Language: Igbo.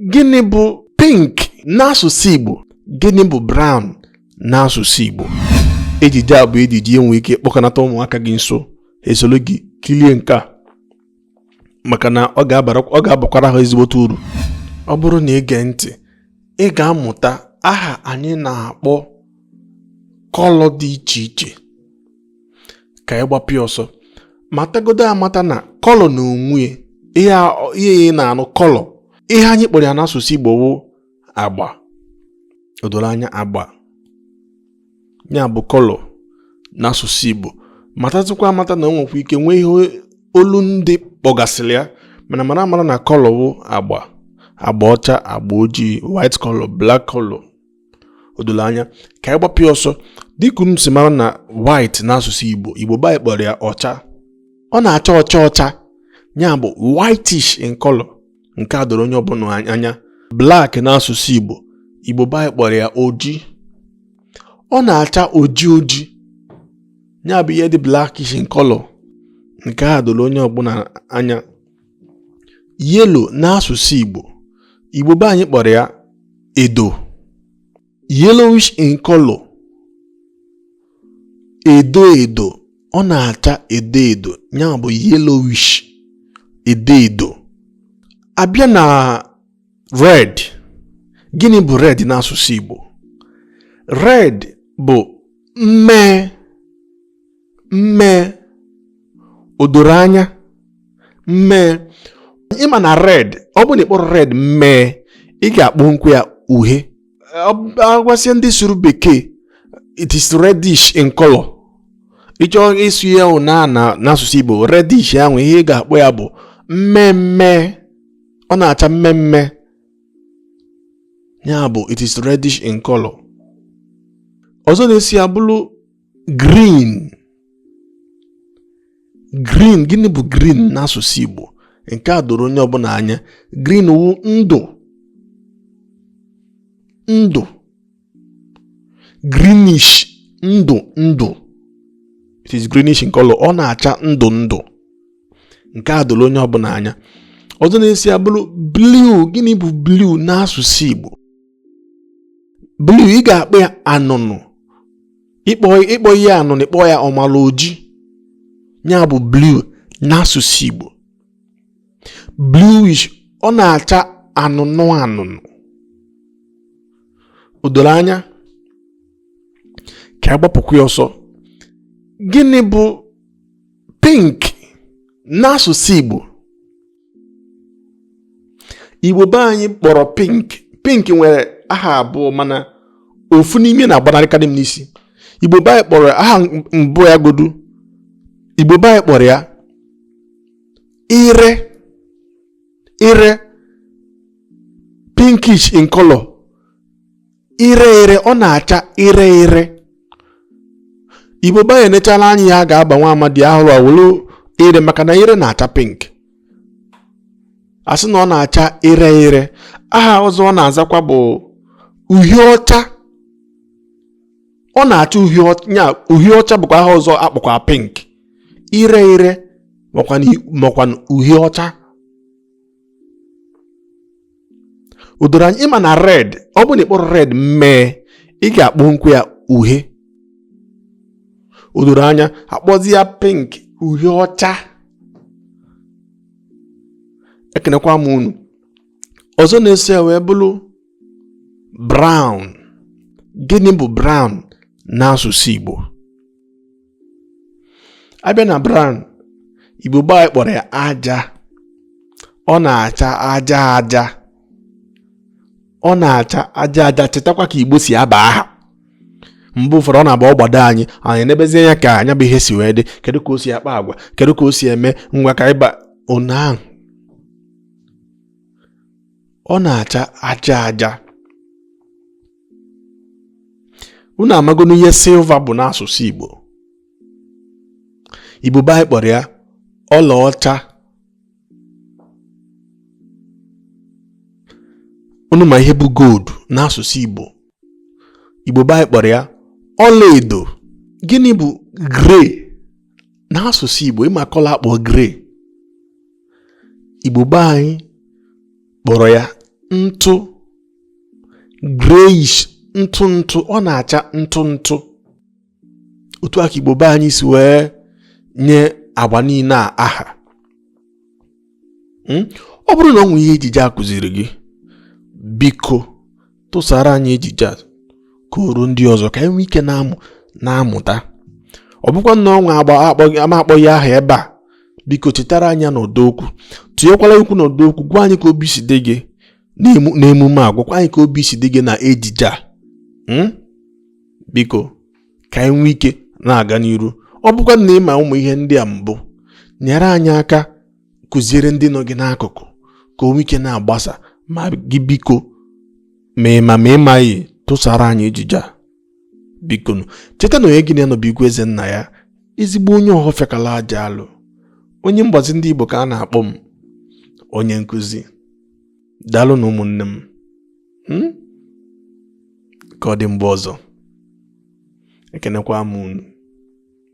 gịnị bụ pink n'asụsụ Igbo gịnị bụ brown n'asụsụ Igbo ejije a bụ ejije i nwe ike kpọkọnata ụmụaka gị nso ha esoro gị kilie nke a maka na ọ ga-abakwara ha ezigbote uru ọ bụrụ na ị gee ntị ị ga-amụta aha anyị na-akpọ kọlọ dị iche iche ka anyị gbapụ ya ọsọ matagodo amata na kọlọ n'onwe ya ihe a na-anụ kọlọ ihe anyị kpọrọ ya n'asụsụ Igbo wụ agba o doro anya agba ya bụ kọlọ n'asụsụ Igbo matatụkwa amata na o nwekwa ike nwee ihe olu ndị kpọgasịrị ya mana mara amara na kọlọ wụ agba agba ọcha agba ojii white color black color o doro anya ka anyị gbapụ ya ọsọ dịka m si mara na white n'asụsụ Igbo Igbo be anyị kpọrọ ya ọcha ọ na-acha ọcha ọcha ya bụ whitish in color nke a doro onye ọbụla anya black n'asụsụ Igbo Igbo be anyị kpọrọ ya oji ọ na-acha oji oji ya bụ ihe dị blackish in color nke a doro onye ọbụla anya yellow n'asụsụ Igbo Igbo be anyị kpọrọ ya edo yellowish in color edo edo ọ na-acha edo edo ya bụ yellowish edo edo a bịa na red gịnị bụ red n'asụsụ Igbo red bụ mmee mmee o doro anya mmee ị ma na red ọ bụ na ị kpọrọ red mmee ị ga-akpọnwukwa ya uhie agwasịa ndị sụrụ bekee it is reddish in color ị chọọ ịsụ ya ahụ na n'asụsụ Igbo reddish ahụ ihe ị ga-akpọ ya bụ mmee mmee ọ na-acha mmee mmee ya bụ it is reddish in color ọzọ na-eso ya bụrụ green green gịnị bụ green n'asụsụ Igbo nke a doro onye ọbụla anya green wu ndụ ndụ greenish ndụ ndụ it is greenish in color ọ na-acha ndụ ndụ nke a doro onye ọbụla anya ọzọ na-eso ya bụrụ blue gịnị bụ blue n'asụsụ Igbo blue ị ga-akpọ ya anụnụ ị kpọhọ ya anụnụ ị kpọọ ya ọmala oji ya bụ blue n'asụsụ Igbo bluish ọ na-acha anụnụ anụnụ o doro anya ka a gbapụkwa ya ọsọ gịnị bụ pink n'asụsụ Igbo igbo be anyị kpọrọ pink pink nwere aha abụọ mana ofu n'ime ya na-agbanarịkarị m n'isi igbo be anyị kpọrọ aha mbụ ya godu igbo be anyị kpọrọ ya ire ire pinkish in color ire ire ọ na-acha ire ire igbo be anyị enechala anya ihe a ga-aba nwa amadi ahụrụ awụrụ ire maka na ire na-acha pink a sị na ọ na-acha ire ire aha ọzọ ọ na-azakwa bụ uhie ọcha ọ na-acha uhie ọcha uhie ọcha bụkwa aha ọzọ a kpọkwa pink ire ire makwa uhie ọcha o doro anya ị ma na red ọ bụ na ị kpọrọ red mmee ị ga-akpọnwukwa ya uhie o doro anya a kpọzie ya pink uhie ọcha ekenekwa m unu ọzọ na-eso ya wee bụrụ brown gịnị bụ brown n'asụsụ Igbo a bịa na brown igbo be anyị kpọrọ ya aja ọ na-acha aja aja ọ na-acha aja aja chetakwa ka igbo si aba aha mgbe ụfọdụ ọ na-abụ ọ gbado anyị anya e nebezie anya ka nya bụ ihe si wee dị kedu ka o si akpa agwa kedu ka o si eme ngwa ka ịba onye ahụ ọ na-acha aja aja unu amagonu ihe silva bụ n'asụsụ Igbo Igbo be anyị kpọrọ ya ọlaọcha unu ma ihe bụ gold n'asụsụ Igbo Igbo be anyị kpọrọ ya ọlaedo gịnị bụ grey n'asụsụ Igbo ị ma color a kpọ grey Igbo be anyị kpọrọ ya ntụ grayish ntụ ntụ ọ na-acha ntụ ntụ otu aka igbo be anyị si wee nye agba niile a aha hmm? ọ bụrụ na o nwee ihe ejije a kụziri gị biko tụsara anyị ejije a ka o ruo ndị ọzọ ka anyị nwee ike na-amụ na-amụta ọ bụkwa na o nwee agba m akpọghị aha ebe a biko chetara anyị n'ọdọ okwu tụnyekwala okwu n'ọdọ okwu gwa anyị ka obi si dị gị n'emume a gwakwa anyị ka obi si dị gị na ejije a hmm? biko ka anyị nwee ike na-aga n'iru ọ bụkwa na ị ma ụmụ ihe ndị a mbụ nyere anyị aka kụziere ndị nọ gị n'akụkụ ka o nwee ike na-agbasa ma gị biko ma ị ma ma ị maghị tụsara anyị ejije a biko cheta na onye gị na ya nọ bụ igwe eze nna ya ezigbo onye Ọhọfịa kala aja alụ onye mgbazi ndị Igbo ka a na-akpọ m onye nkụzi daalụ nụ ụmụnne m hmm? ka ọ dị mgbe ọzọ ekenekwa m unu